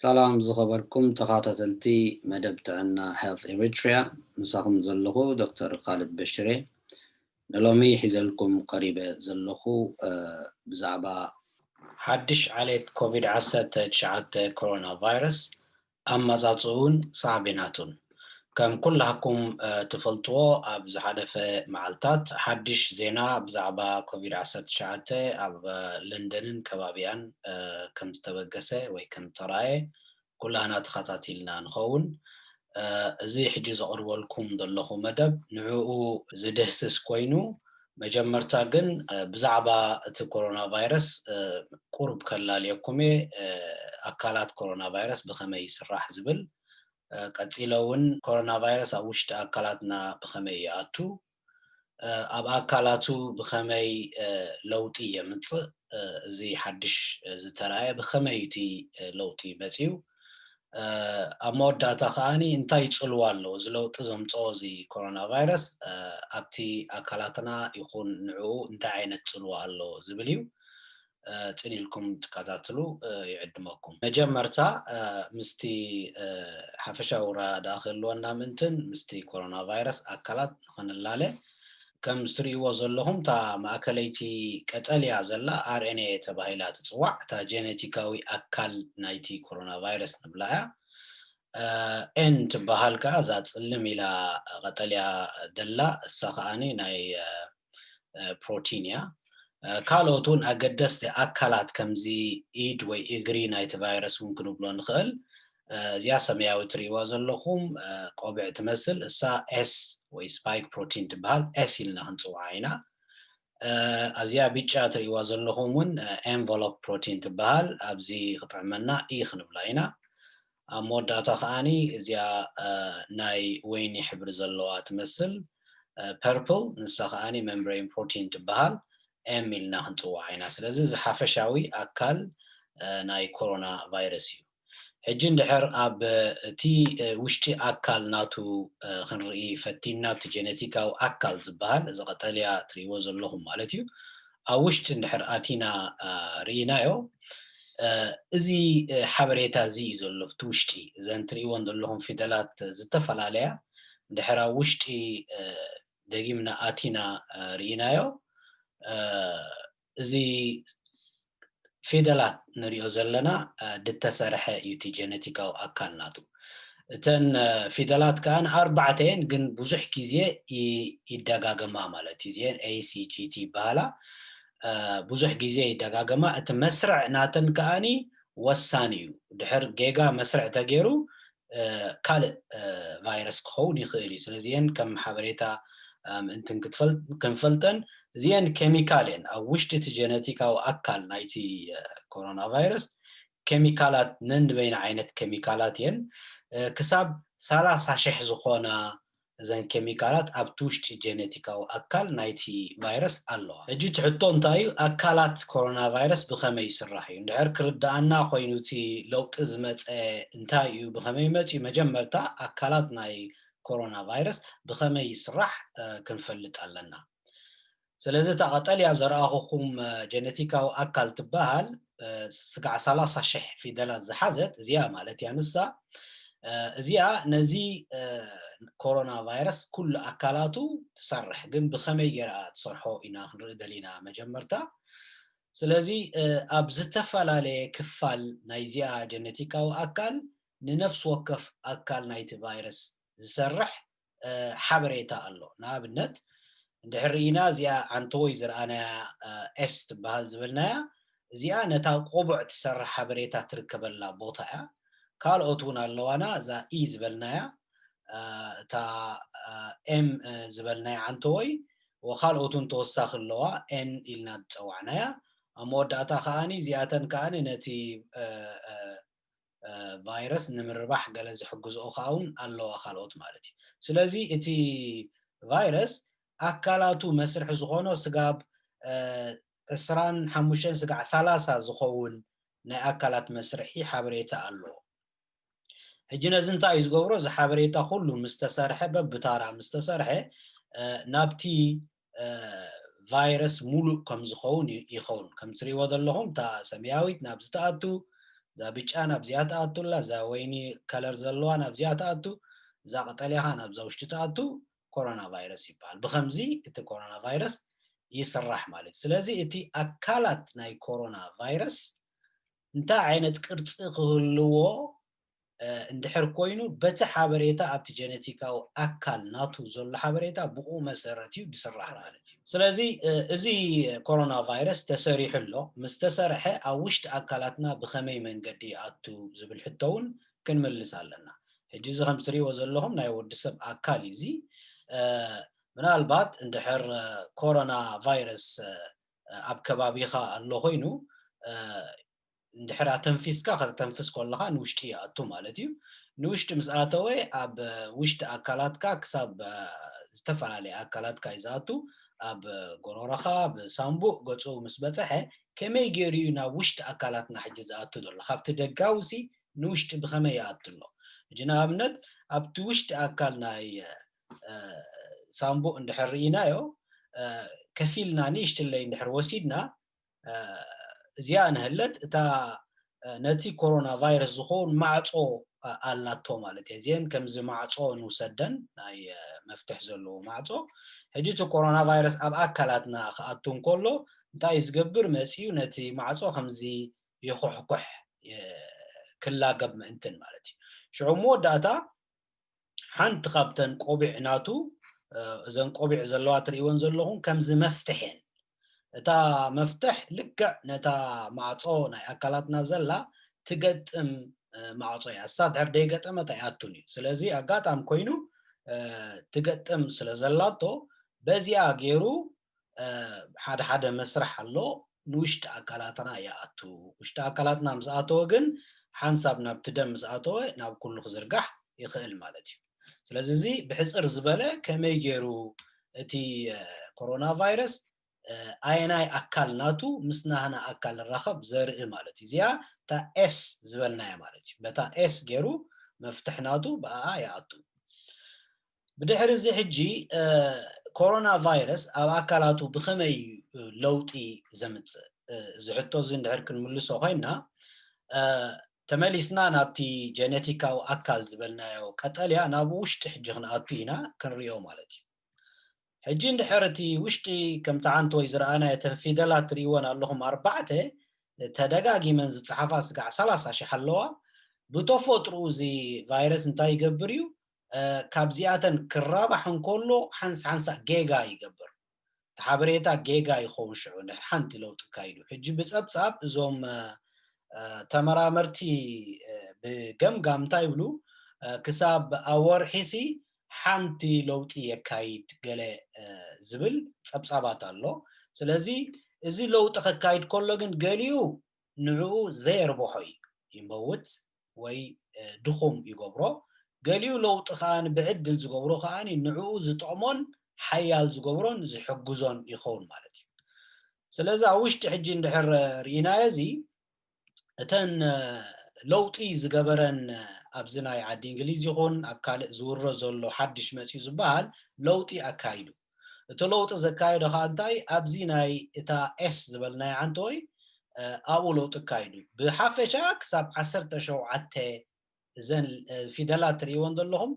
ሰላም ዝኸበርኩም ተኻታተልቲ መደብ ጥዕና Health Eritrea ምሳኹም ዘለኹ ዶክተር ካልድ በሽር እየ ንሎሚ ሒዘልኩም ቀሪበ ዘለኹ ብዛዕባ ሓድሽ ዓሌት ኮቪድ ዓሰርተ ትሽዓተ ኮሮና ቫይረስ ኣመጻጽእኡን ሳዕቤናቱን ከም ኩላህኩም ትፈልጥዎ ኣብ ዝሓለፈ መዓልታት ሓድሽ ዜና ብዛዕባ ኮቪድ ዓሰርተ ትሽዓተ ኣብ ለንደንን ከባቢኣን ከም ዝተበገሰ ወይ ከም ዝተራእየ ኩላህና ተኸታቲልና ንኸውን። እዚ ሕጂ ዘቕርበልኩም ዘለኹ መደብ ንዕኡ ዝድህስስ ኮይኑ መጀመርታ ግን ብዛዕባ እቲ ኮሮና ቫይረስ ቁሩብ ከላልየኩም እየ፣ ኣካላት ኮሮና ቫይረስ ብኸመይ ይስራሕ ዝብል፣ ቀጺለ እውን ኮሮና ቫይረስ ኣብ ውሽጢ ኣካላትና ብኸመይ ይኣቱ፣ ኣብ ኣካላቱ ብኸመይ ለውጢ የምጽእ፣ እዚ ሓድሽ ዝተራእየ ብኸመይ እዩ እቲ ለውጢ መጺኡ፣ ኣብ መወዳእታ ከኣኒ እንታይ ጽልዋ ኣለዎ እዚ ለውጢ ዘምጽኦ እዚ ኮሮና ቫይረስ ኣብቲ ኣካላትና ይኹን ንዕኡ እንታይ ዓይነት ጽልዋ ኣለዎ ዝብል እዩ ጽን ኢልኩም ትከታትሉ ይዕድመኩም መጀመርታ ምስቲ ሓፈሻዊ ራ ድኣ ክህልወና ምእንትን ምስቲ ኮሮና ቫይረስ ኣካላት ንክንላለ ከም እትርእይዎ ዘለኹም እታ ማእከለይቲ ቀጠልያ ዘላ RNA ተባሂላ ትጽዋዕ፣ እታ ጀነቲካዊ ኣካል ናይቲ ኮሮናቫይረስ ንብላ እያ። N ትበሃል ከኣ እዛ ጽልም ኢላ ቀጠልያ ደላ እሳ ከኣ ናይ ፕሮቲን እያ። ካልኦት እውን ኣገደስቲ ኣካላት ከምዚ ኢድ ወይ እግሪ ናይቲ ቫይረስ እውን ክንብሎ ንኽእል እዚኣ ሰመያዊ ትሪእዋ ዘለኹም ቆብዕ ትመስል እሳ S ወይ ስፓይክ ፕሮቲን ትበሃል S ኢልና ክንጽውዓ ኢና። ኣብዚኣ ብጫ ትሪእዋ ዘለኹም እውን ኤንቨሎፕ ፕሮቲን ትበሃል ኣብዚ ክጥዕመና E ክንብላ ኢና። ኣብ መወዳእታ ከኣኒ እዚኣ ናይ ወይኒ ሕብሪ ዘለዋ ትመስል ፐርፕል ንሳ ከኣኒ መምብሬን ፕሮቲን ትበሃል M ኢልና ክንጽውዓ ኢና። ስለዚ እዚ ሓፈሻዊ ኣካል ናይ ኮሮና ቫይረስ እዩ። ሕጂ እንድሕር ኣብ እቲ ውሽጢ ኣካል ናቱ ክንርኢ ፈቲንና ኣብቲ ጀነቲካዊ ኣካል ዝብሃል እዚ ቀጠልያ ትሪእዎ ዘለኹም ማለት እዩ ኣብ ውሽጢ እንድሕር ኣቲና ርኢናዮ እዚ ሓበሬታ እዚ እዩ ዘሎ ኣብቲ ውሽጢ እዘን ትሪእዎን ዘለኹም ፊደላት ዝተፈላለያ እንድሕር ኣብ ውሽጢ ደጊምና ኣቲና ርኢናዮ እዚ ፊደላት ንሪኦ ዘለና ድተሰርሐ እዩ እቲ ጀነቲካዊ ኣካል ናቱ። እተን ፊደላት ከኣ ኣርባዕተ እየን ግን ብዙሕ ግዜ ይደጋገማ ማለት እዩ እዚኤን A C G T ይበሃላ ብዙሕ ግዜ ይደጋገማ እቲ መስርዕ ናተን ከኣ ወሳኒ እዩ ድሕር ጌጋ መስርዕ ተገይሩ ካልእ ቫይረስ ክኸውን ይኽእል እዩ። ስለዚ እየን ከም ሓበሬታ ምእንትን ክንፈልጠን እዚኤን ኬሚካል እየን ኣብ ውሽጢ እቲ ጀነቲካዊ ኣካል ናይቲ ኮሮና ቫይረስ ኬሚካላት ነንበይና ዓይነት ኬሚካላት እየን ክሳብ ሰላሳ ሽሕ ዝኾና እዘን ኬሚካላት ኣብቲ ውሽጢ ጀነቲካዊ ኣካል ናይቲ ቫይረስ ኣለዋ። ሕጂ እቲ ሕቶ እንታይ እዩ፣ ኣካላት ኮሮናቫይረስ ብኸመይ ይስራሕ እዩ? እንድሕር ክርድኣና ኮይኑ እቲ ለውጢ ዝመጸ እንታይ እዩ፣ ብኸመይ መጺኡ፣ መጀመርታ ኣካላት ናይ ኮሮናቫይረስ ብኸመይ ይስራሕ ክንፈልጥ ኣለና። ስለዚ እታ ቀጠልያ ዘርኣኹኩም ጀነቲካዊ ኣካል ትበሃል ስጋዕ ሰላሳ ሽሕ ፊደላት ዝሓዘት እዚኣ ማለት እያ ንሳ እዚኣ ነዚ ኮሮና ቫይረስ ኩሉ ኣካላቱ ትሰርሕ ግን ብኸመይ ጌርኣ ትሰርሖ ኢና ክንርኢ ደሊና መጀመርታ ስለዚ ኣብ ዝተፈላለየ ክፋል ናይዚኣ ጀነቲካዊ ኣካል ንነፍሲ ወከፍ ኣካል ናይቲ ቫይረስ ዝሰርሕ ሓበሬታ ኣሎ። ንኣብነት እንድሕር ርኢና እዚኣ ዓንተዎይ ዝረኣናያ S ትበሃል ዝበልናያ እዚኣ ነታ ቆቡዕ ትሰርሕ ሓበሬታ ትርከበላ ቦታ እያ። ካልኦት እውን ኣለዋና እዛ E ዝበልናያ እታ M ዝበልናያ ዓንተዎይ ወካልኦት እውን ተወሳኺ ኣለዋ N ኢልና ዝፀዋዕናያ ኣብ መወዳእታ ከኣ እዚኣተን ከኣ ነቲ ቫይረስ ንምርባሕ ገለ ዝሕግዝኦ ከኣውን ኣለዋ ካልኦት ማለት እዩ። ስለዚ እቲ ቫይረስ ኣካላቱ መስርሒ ዝኾኖ ስጋብ ዕስራን ሓሙሽተን ስጋዕ ሰላሳ ዝኸውን ናይ ኣካላት መስርሒ ሓበሬታ ኣሎ። ሕጂ ነዚ እንታይ እዩ ዝገብሮ እዚ ሓበሬታ ኩሉ ምስ ተሰርሐ በብታራ ምስ ተሰርሐ ናብቲ ቫይረስ ሙሉእ ከም ዝኸውን ይኸውን ከም ትሪእዎ ዘለኹም እታ ሰመያዊት ናብዚ ትኣቱ እዛ ብጫ ናብዚኣ ትኣቱ ኣላ እዛ ወይኒ ከለር ዘለዋ ናብዚኣ ትኣቱ እዛ ቀጠልያ ኸዓ ናብዛ ውሽጢ ትኣቱ ኮሮና ቫይረስ ይበሃል ብኸምዚ እቲ ኮሮና ቫይረስ ይስራሕ ማለት ስለዚ እቲ ኣካላት ናይ ኮሮና ቫይረስ እንታይ ዓይነት ቅርፂ ክህልዎ እንድሕር ኮይኑ በቲ ሓበሬታ ኣብቲ ጀነቲካዊ ኣካል ናቱ ዘሎ ሓበሬታ ብኡ መሰረት እዩ ድስራሕ ማለት እዩ። ስለዚ እዚ ኮሮና ቫይረስ ተሰሪሑ ኣሎ፣ ምስ ተሰርሐ ኣብ ውሽጢ ኣካላትና ብኸመይ መንገዲ ይኣቱ ዝብል ሕቶ እውን ክንምልስ ኣለና። ሕጂ እዚ ከምቲ ትሪእዎ ዘለኹም ናይ ወዲ ሰብ ኣካል እዩ እዚ ምናልባት እንድሕር ኮሮና ቫይረስ ኣብ ከባቢኻ ኣሎ ኮይኑ እንድሕር ኣተንፊስካ ከተተንፍስ ኮለኻ ንውሽጢ ይኣቱ ማለት እዩ። ንውሽጢ ምስ ኣተወ ኣብ ውሽጢ ኣካላትካ ክሳብ ዝተፈላለየ ኣካላትካ እዩ ዝኣቱ። ኣብ ጎሮሮኻ፣ ኣብ ሳንቡእ፣ ገጹ ምስ በጸሐ ከመይ ጌሩ እዩ ናብ ውሽጢ ኣካላትና ሕጂ ዝኣቱ ዘሎ? ካብቲ ደጋዊሲ ንውሽጢ ብኸመይ ይኣቱ ኣሎ? ሕጂ ንኣብነት ኣብቲ ውሽጢ ኣካል ናይ ሳንቡእ እንድሕር ርኢናዮ ከፊልና ንእሽትለይ እንድሕር ወሲድና እዚኣ እንሀለት እታ ነቲ ኮሮና ቫይረስ ዝኸውን ማዕጾ ኣላቶ ማለት እየ እዚን ከምዚ ማዕጾ ንውሰደን ናይ መፍትሕ ዘለዎ ማዕጾ ሕጂ እቲ ኮሮና ቫይረስ ኣብ ኣካላትና ክኣቱ እንከሎ እንታይ እዩ ዝገብር መፅኡ ነቲ ማዕጾ ከምዚ ይኹሕኩሕ ክላገብ ምእንትን ማለት እዩ ሽዑ መወዳእታ ሓንቲ ካብተን ቆቢዕ ናቱ እዘን ቆቢዕ ዘለዋ ትርእይወን ዘለኹም ከምዚ መፍትሕ እየን እታ መፍትሕ ልክዕ ነታ ማዕጾ ናይ ኣካላትና ዘላ ትገጥም ማዕጾ እያ እሳ ድሕር ደይገጠመት ኣይኣቱን እዩ ስለዚ ኣጋጣሚ ኮይኑ ትገጥም ስለ ዘላቶ በዚኣ ገይሩ ሓደ ሓደ መስርሕ ኣሎ ንውሽጢ ኣካላትና ይኣቱ ውሽጢ ኣካላትና ምስ ኣተወ ግን ሓንሳብ ናብቲ ደም ምስ ኣተወ ናብ ኩሉ ክዝርጋሕ ይኽእል ማለት እዩ ስለዚ እዚ ብሕፅር ዝበለ ከመይ ገይሩ እቲ ኮሮና ቫይረስ ኣየናይ ኣካል ናቱ ምስ ናህና ኣካል ንራኸብ ዘርኢ ማለት እዩ እዚኣ እታ ኤስ ዝበልናያ ማለት እዩ በታ ኤስ ገይሩ መፍትሕ ናቱ ብኣኣ ይኣቱ ብድሕሪ እዚ ሕጂ ኮሮና ቫይረስ ኣብ ኣካላቱ ብኸመይ እዩ ለውጢ ዘምጽእ? እዚ ሕቶ እዚ እንድሕር ክንምልሶ ኮይና ተመሊስና ናብቲ ጀነቲካዊ ኣካል ዝበልናዮ ቀጠልያ ናብ ውሽጢ ሕጂ ክንኣቱ ኢና ክንሪኦ ማለት እዩ። ሕጂ እንድሕር እቲ ውሽጢ ከምቲ ሓንቲ ወይ ዝረኣናዮ እተን ፊደላት ትሪእወን ኣለኹም ኣርባዕተ ተደጋጊመን ዝጸሓፋ ስጋዕ ሰላሳ ሽሕ ኣለዋ። ብተፎጥርኡ እዚ ቫይረስ እንታይ ይገብር እዩ? ካብዚኣተን ክራባሕ እንከሎ ሓንስ ሓንሳእ ጌጋ ይገብር እቲ ሓበሬታ ጌጋ ይኸውን ሽዑ ድሕሪ ሓንቲ ለውጢ ኣካይዱ ሕጂ ብጸብጻብ እዞም ተመራመርቲ ብገምጋም እንታይ ይብሉ ክሳብ ኣብ ወርሒሲ ሓንቲ ለውጢ የካይድ ገለ ዝብል ጸብጻባት ኣሎ ስለዚ እዚ ለውጢ ከካይድ ከሎ ግን ገሊኡ ንዕኡ ዘየርብሖ እዩ ይመውት ወይ ድኹም ይገብሮ፣ ገሊኡ ለውጢ ከኣ ብዕድል ዝገብሮ ከኣ ንዕኡ ዝጠቕሞን ሓያል ዝገብሮን ዝሕግዞን ይኸውን ማለት እዩ። ስለዚ ኣብ ውሽጢ ሕጂ እንድሕር ርኢናዮ እዚ እተን ለውጢ ዝገበረን ኣብዚ ናይ ዓዲ እንግሊዝ ይኹን ኣብ ካልእ ዝውረ ዘሎ ሓድሽ መጺኡ ዝበሃል ለውጢ ኣካይዱ፣ እቲ ለውጢ ዘካየዶ ከኣ እንታይ ኣብዚ ናይ እታ ኤስ ዝበልናያ ዓንተወይ ኣብኡ ለውጢ ኣካይዱ እዩ። ብሓፈሻ ክሳብ ዓሰርተ ሸውዓተ እዘን ፊደላት ትርእይወን ዘለኹም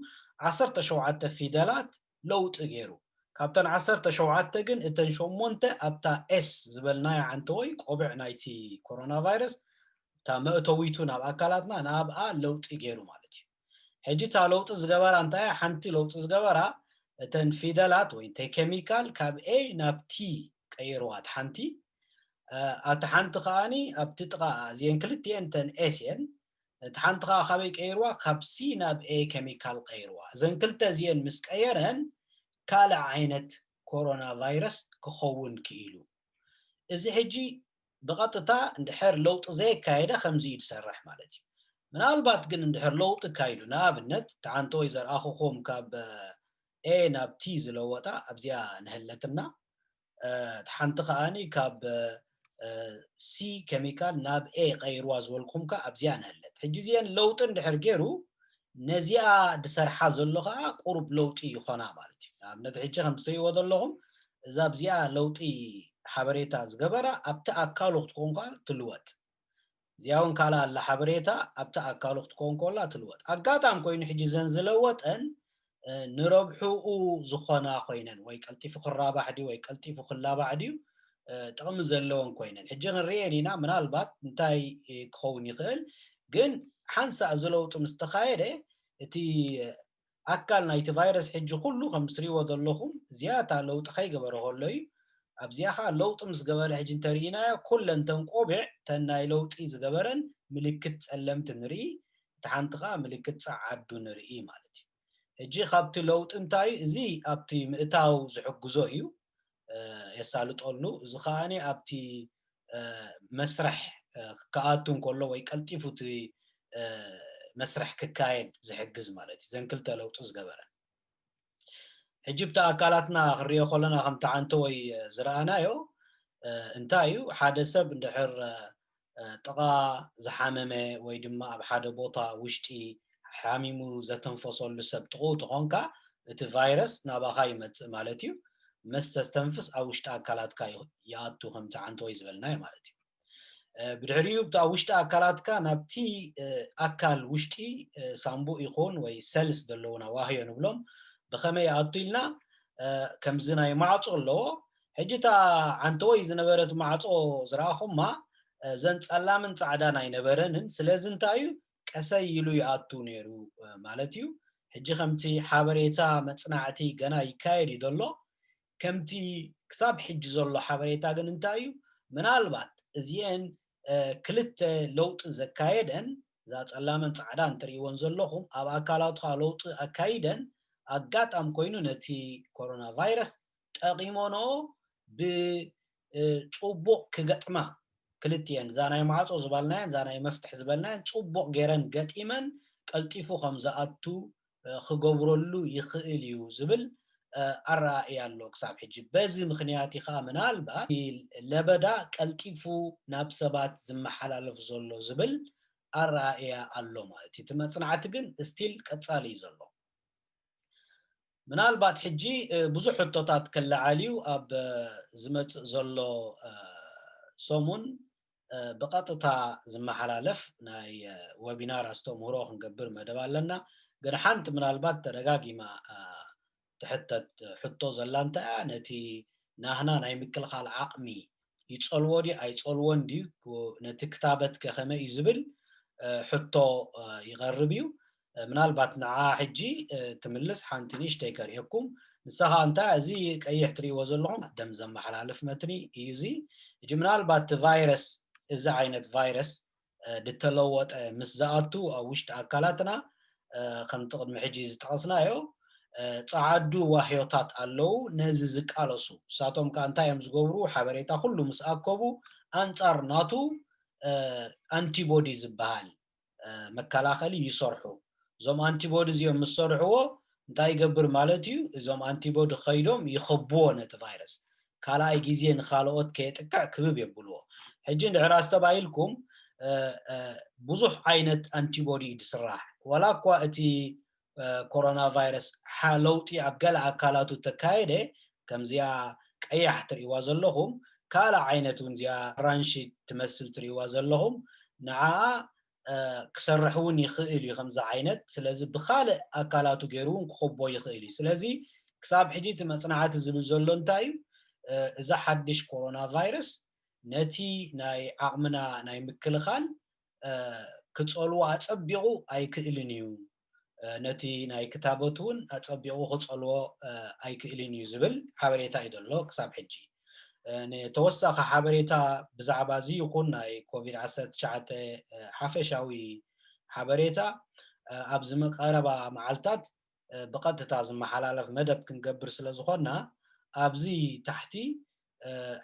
ዓሰርተ ሸውዓተ ፊደላት ለውጢ ገይሩ። ካብተን ዓሰርተ ሸውዓተ ግን እተን ሸሞንተ ኣብታ ኤስ ዝበልናያ ዓንተወይ ቆብዕ ናይቲ ኮሮናቫይረስ እታ መእተዊቱ ናብ ኣካላትና ንኣብኣ ለውጢ ገይሩ ማለት እዩ። ሕጂ እታ ለውጢ ዝገበራ እንታይ እያ ሓንቲ ለውጢ ዝገበራ እተን ፊደላት ወይ እንታይ ኬሚካል ካብ A ናብ T ቀይርዋ እታ ሓንቲ ኣብቲ ሓንቲ ከኣኒ ኣብቲ ጥቓኣ እዚኤን ክልቲኤን እተን ኤስ እየን እቲ ሓንቲ ከኣ ካበይ ቀይርዋ ካብ ሲ ናብ ኤ ኬሚካል ቀይርዋ እዘን ክልተ እዚኤን ምስ ቀየረን ካልእ ዓይነት ኮሮና ቫይረስ ክኸውን ክኢሉ እዚ ሕጂ ብቐጥታ እንድሕር ለውጢ ዘየካየደ ከምዚ'ዩ ዝሰርሕ ማለት እዩ። ምናልባት ግን እንድሕር ለውጢ ኣካይዱ፣ ንኣብነት ትዓንቶ ወይ ዘርኣኹኹም ካብ A ናብ T ዝለወጣ ኣብዚኣ ንሀለትና፣ እታ ሓንቲ ከኣ ካብ C ኬሚካል ናብ A ቀይርዋ ዝበልኩኹም ከኣ ኣብዚኣ ንሀለት። ሕጂ እዚኤን ለውጢ እንድሕር ገይሩ ነዚኣ ድሰርሓ ዘሎ ከኣ ቁሩብ ለውጢ ይኾና ማለት እዩ። ኣብ ነቲ ሕጂ ከምቲ ትርእይዎ ዘለኹም እዛ ኣብዚኣ ለውጢ ሓበሬታ ዝገበራ ኣብቲ ኣካሉ ክትኮን ከኣ ትልወጥ። እዚኣ ውን ካልኣ ኣላ ሓበሬታ ኣብቲ ኣካሉ ክትኮን ኮላ ትልወጥ። ኣጋጣም ኮይኑ ሕጂ እዘን ዝለወጠን ንረብሕኡ ዝኾና ኮይነን ወይ ቀልጢፉ ክራባሕ ድዩ ወይ ቀልጢፉ ክላባዕ ድዩ ጥቕሚ ዘለወን ኮይነን ሕጂ ክንርእየን ኢና ምናልባት እንታይ ክኸውን ይኽእል ግን ሓንሳእ እዚ ለውጢ ምስ ተኻየደ እቲ ኣካል ናይቲ ቫይረስ ሕጂ ኩሉ ከም ትሪእዎ ዘለኹም ዝያታ ለውጢ ከይገበረ ከሎ እዩ ኣብዚኣ ከዓ ለውጢ ምስ ገበረ ሕጂ እንተርኢናዮ ኩለን ተን ቆቢዕ ተን ናይ ለውጢ ዝገበረን ምልክት ጸለምቲ ንርኢ እቲ ሓንቲ ከዓ ምልክት ጸዓዱ ንርኢ ማለት እዩ ሕጂ ካብቲ ለውጢ እንታይ እዚ ኣብቲ ምእታው ዝሕግዞ እዩ የሳልጠሉ እዚ ከኣ ኣብቲ መስርሕ ክኣቱ እንከሎ ወይ ቀልጢፉ እቲ መስርሕ ክካየድ ዝሕግዝ ማለት እዩ ዘን ክልተ ለውጢ ዝገበረ ሕጂ ብቲ ኣካላትና ክንሪኦ ከለና ከምቲ ዓንተወይ ዝረኣናዮ እንታይ እዩ ሓደ ሰብ እንድሕር ጥቓ ዝሓመመ ወይ ድማ ኣብ ሓደ ቦታ ውሽጢ ሓሚሙ ዘተንፈሰሉ ሰብ ጥቕኡ ተኾንካ እቲ ቫይረስ ናባኻ ይመጽእ ማለት እዩ። መስ ተስተንፍስ ኣብ ውሽጢ ኣካላትካ ይኣቱ ከምቲ ዓንተወይ ዝበልናዮ ማለት እዩ። ብድሕሪኡ ኣብ ውሽጢ ኣካላትካ ናብቲ ኣካል ውሽጢ ሳንቡእ ይኹን ወይ ሰልስ ዘለዉና ዋህዮ ንብሎም ብኸመይ ይኣቱ ኢልና ከምዚ ናይ ማዕጾ ኣለዎ ሕጂ እታ ዓንተወይ ዝነበረት ማዕጾ ዝረኣኹማ እዘን ጸላምን ጻዕዳን ኣይነበረንን ስለዚ እንታይ እዩ ቀሰይ ኢሉ ይኣቱ ኔሩ ማለት እዩ ሕጂ ከምቲ ሓበሬታ መጽናዕቲ ገና ይካየድ እዩ ዘሎ ከምቲ ክሳብ ሕጂ ዘሎ ሓበሬታ ግን እንታይ እዩ ምናልባት እዚኤን ክልተ ለውጢ ዘካየደን እዛ ጸላምን ጻዕዳን ትርእይወን ዘለኹም ኣብ ኣካላትካ ለውጢ ኣካይደን ኣጋጣም ኮይኑ ነቲ ኮሮና ቫይረስ ጠቂሞኖ ብጹቡቅ ክገጥማ ክልቲኤን እዛ ናይ ማዕጾ ዝባልናየን እዛ ናይ መፍትሕ ዝበልናየን ጹቡቅ ገረን ገጢመን ቀልጢፉ ከም ዝኣቱ ክገብረሉ ይክእል እዩ ዝብል ኣረኣእያ ኣሎ ክሳብ ሕጂ በዚ ምክንያት እዩ ከኣ ምናልባት እቲ ለበዳ ቀልጢፉ ናብ ሰባት ዝመሓላለፍ ዘሎ ዝብል ኣረኣእያ ኣሎ ማለት እዩ እቲ መጽናዕቲ ግን እስቲል ቀጻሊ እዩ ዘሎ። ምናልባት ሕጂ ብዙሕ ሕቶታት ክለዓል እዩ ኣብ ዝመጽእ ዘሎ ሰሙን ብቐጥታ ዝመሓላለፍ ናይ ወቢናር ኣስተምህሮ ክንገብር መደብ ኣለና ግን ሓንቲ ምናልባት ተደጋጊማ ትሕተት ሕቶ ዘላ እንታይ እያ ነቲ ናህና ናይ ምክልኻል ዓቕሚ ይጸልዎ ድዩ ኣይጸልዎን ድዩ ነቲ ክታበት ከ ከመይ እዩ ዝብል ሕቶ ይቐርብ እዩ ምናልባት ንዓ ሕጂ ትምልስ ሓንቲ ንእሽተይ ከርእየኩም ንሳ ኸኣ እንታይ እዚ ቀይሕ ትርእይዎ ዘለኹም ደም ዘመሓላልፍ መትኒ እዩ እዚ ሕጂ ምናልባት እቲ ቫይረስ እዚ ዓይነት ቫይረስ ድተለወጠ ምስ ዝኣቱ ኣብ ውሽጢ ኣካላትና ከምቲ ቅድሚ ሕጂ ዝጠቐስናዮ ጸዓዱ ዋህዮታት ኣለዉ ነዚ ዝቃለሱ። ንሳቶም ከኣ እንታይ እዮም ዝገብሩ ሓበሬታ ኩሉ ምስ ኣከቡ ኣንጻር ናቱ ኣንቲቦዲ ዝበሃል መከላኸሊ ይሰርሑ። እዞም ኣንቲቦዲ እዚኦም ምስ ሰርሕዎ እንታይ ይገብር ማለት እዩ እዞም ኣንቲቦዲ ከይዶም ይኸብዎ ነቲ ቫይረስ። ካልኣይ ግዜ ንኻልኦት ከየጥቅዕ ክብብ የብልዎ። ሕጂ እንድሕር ኣስተባሂልኩም ብዙሕ ዓይነት ኣንቲቦዲ እዩ ዝስራሕ። ዋላ እኳ እቲ ኮሮናቫይረስ ሓ ለውጢ ኣብ ገለ ኣካላቱ እተካየደ፣ ከምዚኣ ቀያሕ ትርእይዋ ዘለኹም፣ ካልእ ዓይነት እውን እዚኣ ኣራንሺ ትመስል ትርእይዋ ዘለኹም፣ ንዓኣ ክሰርሕ እውን ይኽእል እዩ ከምዚ ዓይነት ስለዚ ብካልእ ኣካላቱ ገይሩ እውን ክኹቦ ይኽእል እዩ ስለዚ ክሳብ ሕጂ እቲ መጽናዕቲ ዝብል ዘሎ እንታይ እዩ እዚ ሓድሽ ኮሮና ቫይረስ ነቲ ናይ ዓቕምና ናይ ምክልኻል ክጸልዎ ኣጸቢቑ ኣይክእልን እዩ ነቲ ናይ ክታቦት እውን ኣጸቢቑ ክጸልዎ ኣይክእልን እዩ ዝብል ሓበሬታ እዩ ዘሎ ክሳብ ሕጂ። ንተወሳኺ ሓበሬታ ብዛዕባ እዚ ይኹን ናይ ኮቪድ ዓሰርተ ትሽዓተ ሓፈሻዊ ሓበሬታ ኣብዚ ቀረባ መዓልታት ብቐጥታ ዝመሓላለፍ መደብ ክንገብር ስለ ዝኾንና ኣብዚ ታሕቲ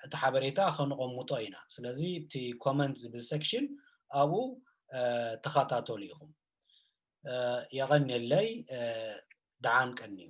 እቲ ሓበሬታ ከንቐምጦ ኢና። ስለዚ እቲ ኮመንት ዝብል ሰክሽን ኣብኡ ተኸታተሉ ኢኹም። የቐንየለይ ደሓን ቀንዩ።